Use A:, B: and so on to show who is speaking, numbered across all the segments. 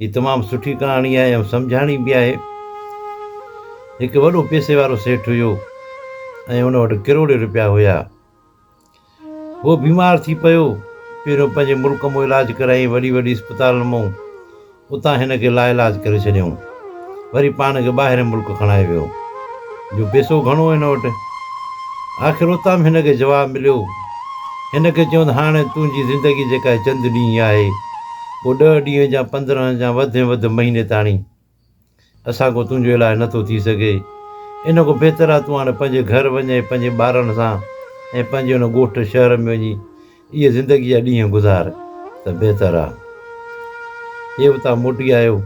A: هي تمام سٺي ڪهاڻي آهي ۽ سمجهاڻي به آهي. هڪ وڏو پيسي وارو سيٺ هيو ۽ ان وٽ ڪروڙين روپيا هيا. هو بيمار ٿي پيو. پهريون پنهنجي ملڪ مئن علاج ڪرايائين وڏي وڏي اسپتالن مئن. اتان هن کي لاعلاج ڪري ڇڏيائون. وري پاڻ کي ٻاهرين ملڪ کڻائي ويو جو پيسو گهڻو هو هن وٽ. آخر اتام هن کي جواب مليو. هن کي چيون ته هاڻي تنهنجي زندگي جيڪا هي چند ڏينهن ئي آهي. پوء ڏهه ڏينهن جا پندرهن جا وڌ ۾ وڌ مهيني تاڻي اسان کان تنهنجو علاج نه ٿو ٿي سگهي. ان کان بهتر آهي تون هاڻي پنهنجي گهر وڃ ۽ پنهنجي ٻارن سان ۽ پنهنجي ان ڳوٺ شهر ۾ وڃي اهي زندگيء جا ڏينهن گذار ته بهتر آ. اهي اتان موٽي آيو.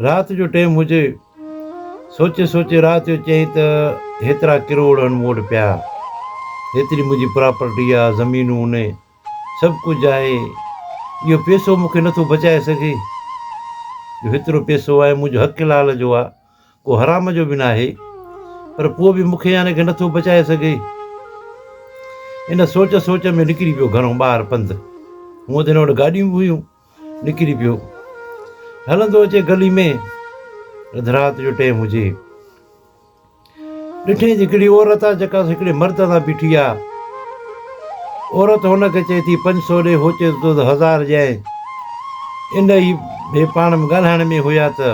A: رات جو ٽيم هجي. سوچي سوچي رات جو چيائين ته هيترا ڪروڙ هن مون وٽ پيا. هيتري منهنجي پراپرٽي آ، زمينون هوني، سڀ ڪجهه آهي. اهو پيسو مون کي نٿو بچائي سگهي. جو هيترو پيسو آهي منهنجو حق حلال جو آ. ڪو حرام جو به ناهي پر پوء به مونکي يعنيٰ کي نٿو بچائي سگهي. ان سوچ سوچ ۾ نڪري پيو گهرون ٻاهر پنڌ. هونء ته هن وٽ گاڏيون به هيون. نڪري پيو. هلندو اچي گلي ۾ اڌ رات جو ٽيم هجي. ڏٺينس هڪڙي عورت آ جيڪا هڪڙي مرد سان بيٺي آ. عورت هن کي چئي ٿي، پنج سو ڏي هو چئي ٿو ته هزار ڏيانء. ان ئي هي پاڻ ۾ ڳالهائڻ ۾ هيا ته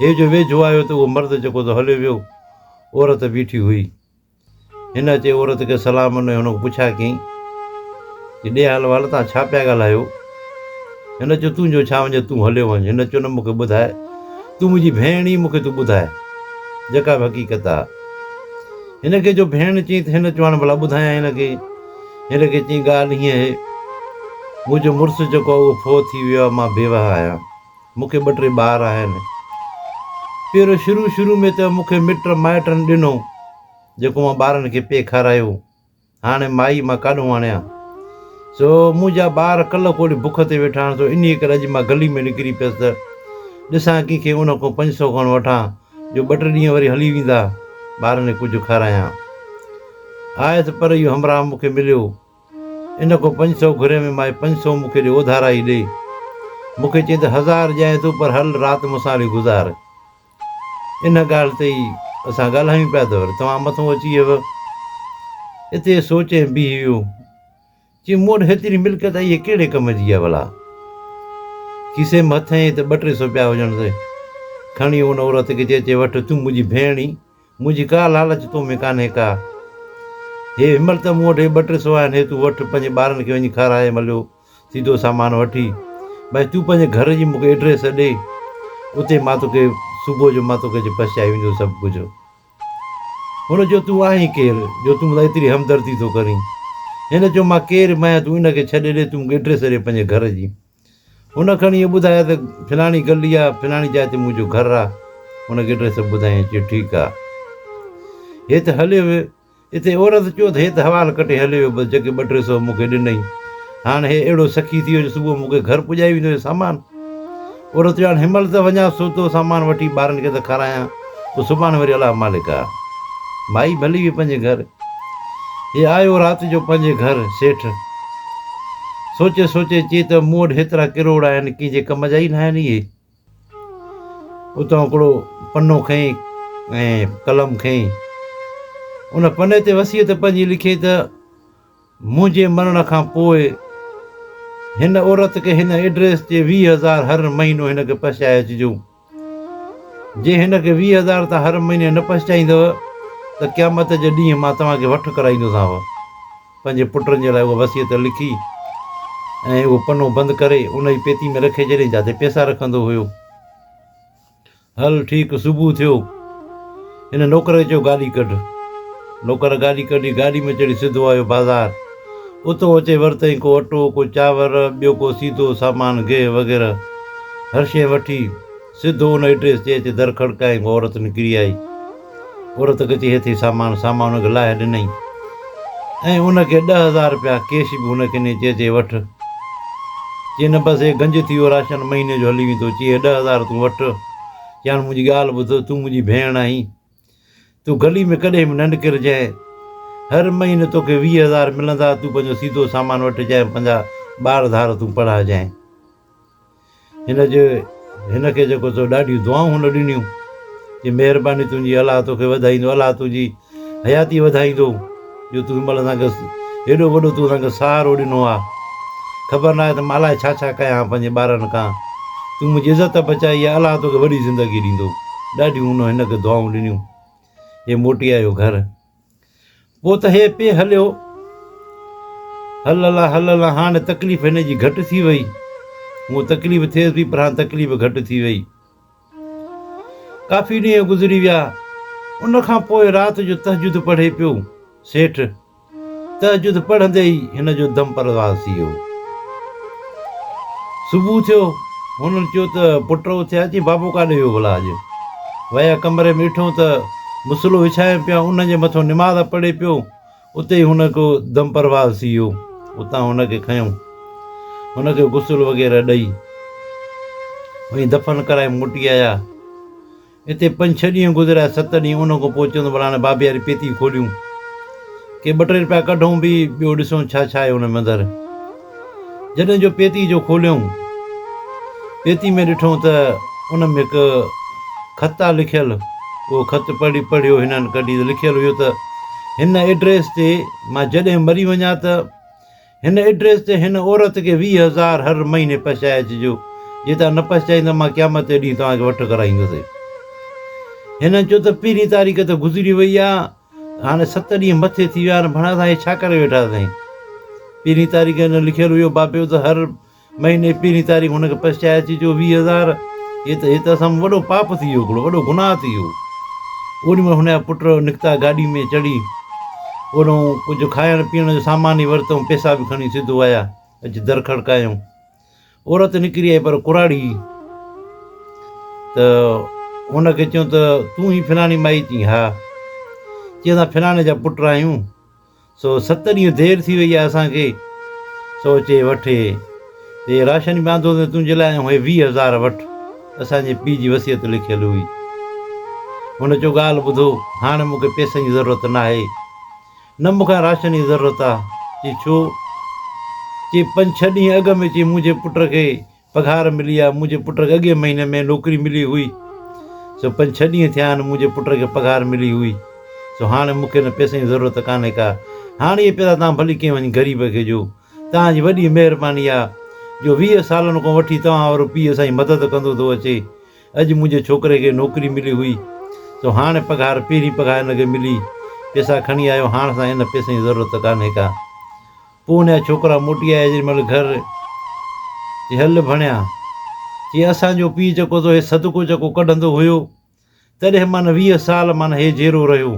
A: هي جو ويجهو آيو ته اهو مرد جيڪو ته هليو ويو عورت بيٺي هئي. هن اچي عورت کي سلام ڏنو ۽ هن کان پڇا ڪيائين ته ڙي حال وحال توهان ڇا پيا ڳالهايو؟ هن چيو تنهنجو ڇا وڃي تون هليو وڃ. هن چيو نه مون کي ٻڌاء تون منهنجي ڀيڻ ئي مون کي تون ٻڌاء جيڪا به حقيقت آ. هن کي جو ڀيڻ چيائين ته هن چواڻ ڀلا ٻڌايان هن کي. هن کي چيائين ڳالهه هيئن اهي، منهنجو مڙس جيڪو آهي اهو فوت ٿي ويو آهي، مان بيوهه آهيان. مون کي ٻه ٽي ٻار آهن. پيرو شروع شروع ۾ ته مون کي مٽ مائٽن ڏنو، جيڪو مان ٻارن کي پئي کارايو. هاڻي مائي مان ڪاڏهون آڻيان سو منهنجا ٻار ڪلهه ڪولهي بک تي ويٺا آهن سو انهيء ڪري اڄ مان گلي ۾ نڪري پيس ته ڏسان ڪنهن کي ان کان پنج سو کن وٺان جو ٻه ٽي ڏينهن وري هلي ويندا ٻارن کي ڪجهه کارايان. آيس پر اهو همراهه مون کي مليو ان کان پنج سو گهري ۾ مائي پنج سو مون کي ڏي اوڌارا ئي ڏي مون کي چئي ته هزار ڏيانء ٿو پر هل رات مون سان هلي گذار. ان ڳالهه تي ئي اسان ڳالهايون پيا ته وري توهان مٿو اچي اهو اتي سوچي ۽ بيهي ويو. چيم مون وٽ هيتري ملڪيت آهي اها ڪهڙي ڪم جي آهي ڀلا؟ کيسي ۾ هٿ هنئي ته ٻه ٽي سو پيا هجڻ ته کڻي ان عورت کي چئي چي وٺ تون منهنجي ڀيڻ آهين منهنجي ڪا لالچ تو ۾ ڪانهي ڪا هي هنمهل ته مون وٽ هي ٻه ٽي سو آهن هي تون وٺ پنهنجي ٻارن کي وڃي کارائي مليو. سيڌو سامان وٺي ڀائي تون پنهنجي گهر جي مونکي ايڊريس ڏي اتي مان توکي صبح جو مان توکي جي پهچائي ويندو سڀ ڪجهه هن چيو تون آهين ڪير جو تون مون سان ايتري همدردي ٿو ڪرين هن چيو مان ڪير به آهيان تون ان کي ڇڏي ڏي تون مونکي ايڊريس ڏي پنهنجي گهر جي هن کڻي ائين ٻڌايا ته فلاڻي گلي آ فلاڻي جاء تي منهنجو گهر آ هن کي ايڊريس ٻڌائين چيو ٺيڪ آ هيت هليو ويو اتي عورت چيو ته هي ته حوال ڪٽي هليو ويو بس جيڪي ٻه ٽي سو مون کي ڏنئي. هاڻ هي اهڙو سخي ٿي ويو جو صبح مون کي گهر پڄائي ويندو هي سامان. عورت چيو هاڻ هنمهل ته وڃان سوتو سامان وٺي ٻارن کي ته کارايان پوء سڀاڻي وري الله مالڪ آ. مائي ڀلي وئي پنهنجي گهر. هي آيو رات جو پنهنجي گهر سيٺ سوچي سوچي چي ته مون وٽ هيترا ڪروڙ آهن ڪنهن جي ڪم جا ئي ناهن اهي. اتان هڪڙو پنو کنئي ۽ قلم کنئي ان پني تي وصيت پنهنجي لکي ته منهنجي مرڻ کان پوء هن عورت کي هن ايڊريس تي ويهه هزار هر مهينو هن کي پهچائي اچجو جي هن کي ويهه هزار تان هر مهيني نه پهچائيندؤ ته قيامت جي ڏينهن مان توهان کي وٺ ڪرائيندوسانو. پنهنجي پٽن جي لاء اها وصيت لکي ۽ اهو پنو بند ڪري ان جي پيتي ۾ رکي ڇڏيائين جاتي پيسا رکندو هيو. هل ٺيڪ صبح ٿيو. هن نوڪر کي چيو گاڏي ڪڍ. نوڪر گاڏي ڪڍي گاڏي ۾ چڙهي سڌو آيو بازار. اتو اچي ورتائين ڪو اٽو، ڪو چانور، ٻيو ڪو سيڌو سامان، گيهه وغيره هر شيء وٺي. سڌو ان ايڊريس تي اچي در کڙڪائين، ڪو عورت نڪري آئي. عورت کي چيائين، هي اٿئي سامان. سامان ان کي لاهي ڏنائين ۽ ان کي ڏهه هزار رپيا ڪيش به ان کي ڏنائين، چيائين، هي وٺ. چيائين، نه بس هي گنج ٿي ويو، راشن مهيني جو هلي ويندو. چيائين، هي ڏهه هزار تون وٺ. چيائين، هاڻي منهنجي ڳالهه ٻڌ، تون منهنجي ڀيڻ آهين. تون گلي ۾ ڪڏهن به نه نڪرجانء. هر مهيني توکي ويهه هزار ملندا، تون پنهنجو سيڌو سامان وٺجانء ۽ پنهنجا ٻار ڌار تون پڙهائجانء. هن جي هن کي جيڪو تو ڏاڍيون دعائون هن ڏنيون، چي مهرباني تنهنجي الله توکي وڌائيندو، الله تنهنجي حياتي وڌائيندو. جو تون مھل اسان کي ھيڏو وڏو تون اسان کي سھارو ڏنو آ خبر ناھي ته مان الائي ڇا ڇا ڪيا ھان پنھنجي ٻارن کان تون منھنجي عزت بچائي آ الله توکي وڏي زندگي ڏيندو ڏاڍيون ھن ھن کي دعائون ڏنيون ھي موٽي آيو گھر پوء ته ھي پي ھليو ھل الله ھل الله ھاڻي تڪليف ھن جي گھٽ ٿي وئي ھون تڪليف ٿيس پئي پر ھاڻي تڪليف گھٽ ٿي وئي ڪافي ڏينهن گذري ويا. ان کان پوء رات جو تهجد پڙهي پيو. سيٺ تهجد پڙهندي ئي هن جو دم پرواز ٿي ويو. صبح ٿيو. هنن چيو ته پٽ اٿيا چي بابو ڪاڏي ويو ڀلا اڄ؟ ويا ڪمري ۾ ڏٺو ته مصلو وڇايم پيا ان جي مٿو نماز پڙهي پيو. اتي ئي هن ڪو دم پرواز ٿي ويو. اتان هن کي کنيو. هن کي غسل وغيره ڏئي ۽ دفن ڪرائي موٽي آيا. اتي پنج ڇهه ڏينهن گذريا، ست ڏينهن ان کان پوء چيو ته ڀلا هاڻي بابي واري پيتي کوليون. ڪي ٻه ٽي رپيا ڪڍون به، ٻيو ڏسون ڇا ڇا آهي ان ۾ اندر. جڏهن جو پيتي جو کوليائون، پيتي ۾ ڏٺائون ته ان ۾ هڪ خط آ لکيل، اهو خط پڙهي پڙهيو هنن ڪڍي ته لکيل هيو ته هن ايڊريس تي مان جڏهن مري وڃان ته هن ايڊريس تي هن عورت کي ويهه هزار هر مهيني پهچائي اچجو، جي توهان نه پهچائين ته مان قيامت جي ڏينهن توهان کي وٺ ڪرائيندس. هنن چيو ته پهرين تاريخ ته گذري وئي آ، هاڻي ست ڏينهن مٿي ٿي ويا آهن، ڀڻا اسان هي ڇا ڪري ويٺا سائين؟ پهرين تاريخ هن لکيل هيو بابيو ته هر مهيني پهرين تاريخ هن کي پئسا چاهي اچي جو ويهه هزار هي ته هي ته اسان ۾ وڏو پاپ ٿي ويو هڪڙو وڏو گناهه ٿي ويو. اوڏي مهل هن جا پٽ نڪتا گاڏي ۾ چڙهي اوڏانهون ڪجهه کائڻ پيئڻ جو سامان ئي ورتائون پئسا به کڻي سڌو آيا اچي در کڙڪايائون. عورت نڪري آئي پر ڪراڙي ته هن کي چيو ته تون ئي فلاڻي مائي؟ چيائين ها. چيائين اسان فلاڻي جا پٽ آهيون سو ست ڏينهن دير ٿي وئي آهي اسان کي سو چي وٺ هي راشن به آندو اٿئي تنهنجي لاء ۽ هي ويهه هزار وٺ اسان جي پيء جي وصيت لکيل هئي. هن چيو ڳالهه ٻڌو هاڻي مون کي پئسن جي ضرورت ناهي. نه مون کان راشن جي ضرورت آ. چي ڇو؟ چي پنج ڇهه ڏينهن اڳ ۾ چي منهنجي پٽ کي پگهار ملي آ. منهنجي پٽ کي اڳئين مهيني ۾ نوڪري ملي هئي. سو پنج ڇهه ڏينهن ٿيا آهن منهنجي پٽ کي پگهار ملي هئي. سو هاڻي مون کي ان پئسن جي ضرورت ڪانهي ڪا. هاڻي اهي پئسا توهان ڀلي ڪنهن وڃي غريب کي ڏيو. توهان جي وڏي مهرباني آ جو ويهه سالن کان وٺي توهان وارو پيء اسان جي مدد ڪندو ٿو اچي. اڄ منهنجي ڇوڪري کي نوڪري ملي هئي سو هاڻ پگهار پهرين پگهار هن کي ملي پيسا کڻي آيو هاڻ سان ان پيسن جي ضرورت ڪانهي ڪا پوء ان جا ڇوڪرا موٽي آيا جيڏي مهل گهر جي هل ڀڻيا چي اسان جو پيء جيڪو تو هي صدقو جيڪو ڪڍندو هيو تڏهن مان ويهه سال مان هي جيرو رهيو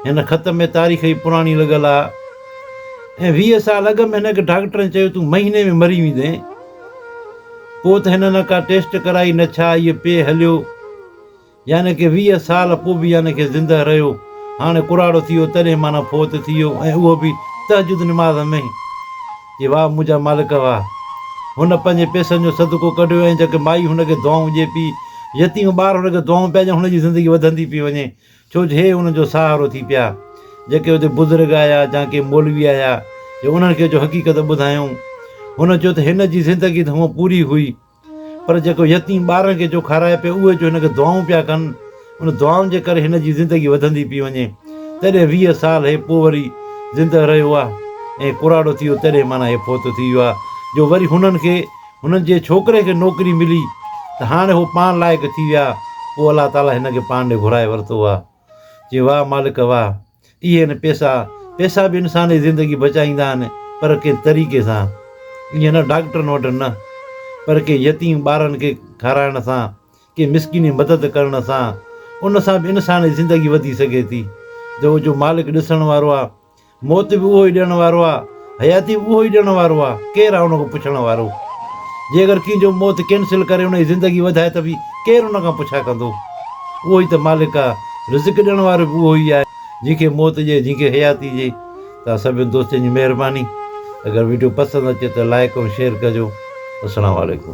A: هن خط ۾ تاريخ ئي پراڻي لڳل آ ۽ ويهه سال اڳ ۾ هن کي ڊاڪٽرن چيو تون مهيني ۾ مري ويندين پوء ته هن نه ڪا ٽيسٽ ڪرائي نه ڇا ايئن پئي هليو يعني ڪي ويهه سال پوء به يعني ڪي زنده رهيو هاڻي ڪراڙو ٿي ويو تڏهن معنيٰ فوت ٿي ويو ۽ اهو به تهجد نماز ۾ چي واهه منهنجا مالڪ واهه هن پنهنجي پيسن جو صدقو ڪڍيو ۽ جيڪي مائي هن کي دعائون ڏئي پئي يتيم ٻار هن کي دعائون پيا ڏين هن جي زندگي وڌندي پئي وڃي ڇو جو هي ان جو سهارو ٿي پيا. جيڪي اتي بزرگ آيا جا ڪي مولوي آيا جو انهن کي جو حقيقت ٻڌايائون. هن چيو ته هن جي زندگي ته هونء پوري هئي پر جيڪو يتيم ٻارن کي جو کارائي پيو اهي جو هن کي دعائون پيا ڪن ان دعائن جي ڪري هن جي زندگي وڌندي پئي وڃي. تڏهن ويهه سال هي پوء وري زندهه رهيو آ ۽ ڪراڙو ٿي ويو تڏهن معنيٰ هي فوت ٿي ويو آ جو وري هنن کي هنن جي ڇوڪري کي نوڪري ملي ته هاڻي هو پاڻ لائق ٿي ويا، پوء الله تعاليٰ هن کي پاڻ ڏي گهرائي ورتو آهي. چيو، واهه مالڪ واهه! اهي آهن پئسا، پئسا به انسان جي زندگي بچائيندا آهن پر ڪنهن طريقي سان، ائين نه ڊاڪٽرن وٽ نه، پر ڪنهن يتيم ٻارن کي کارائڻ سان، ڪنهن مسڪين جي مدد ڪرڻ سان، ان سان به انسان جي زندگي وڌي سگهي ٿي. جو جو مالڪ ڏسڻ وارو آهي. موت به اهو ئي ڏيڻ وارو آ، حياتي به اهو ئي ڏيڻ وارو آ، ڪير آ ان کان پڇڻ وارو؟ جي اگر ڪنهن جو موت ڪينسل ڪري ان جي زندگي وڌائي ته به ڪير ان کان پڇا ڪندو؟ اهو ئي ته مالڪ آ، رزق ڏيڻ وارو به اهو ئي آ، جنهن کي موت ڏئي جنهن کي حياتي ڏئي. توهان سڀني دوستن جي مهرباني، اگر وڊيو پسند اچي ته لائيڪ ۽ شيئر ڪجو. السلام عليڪم.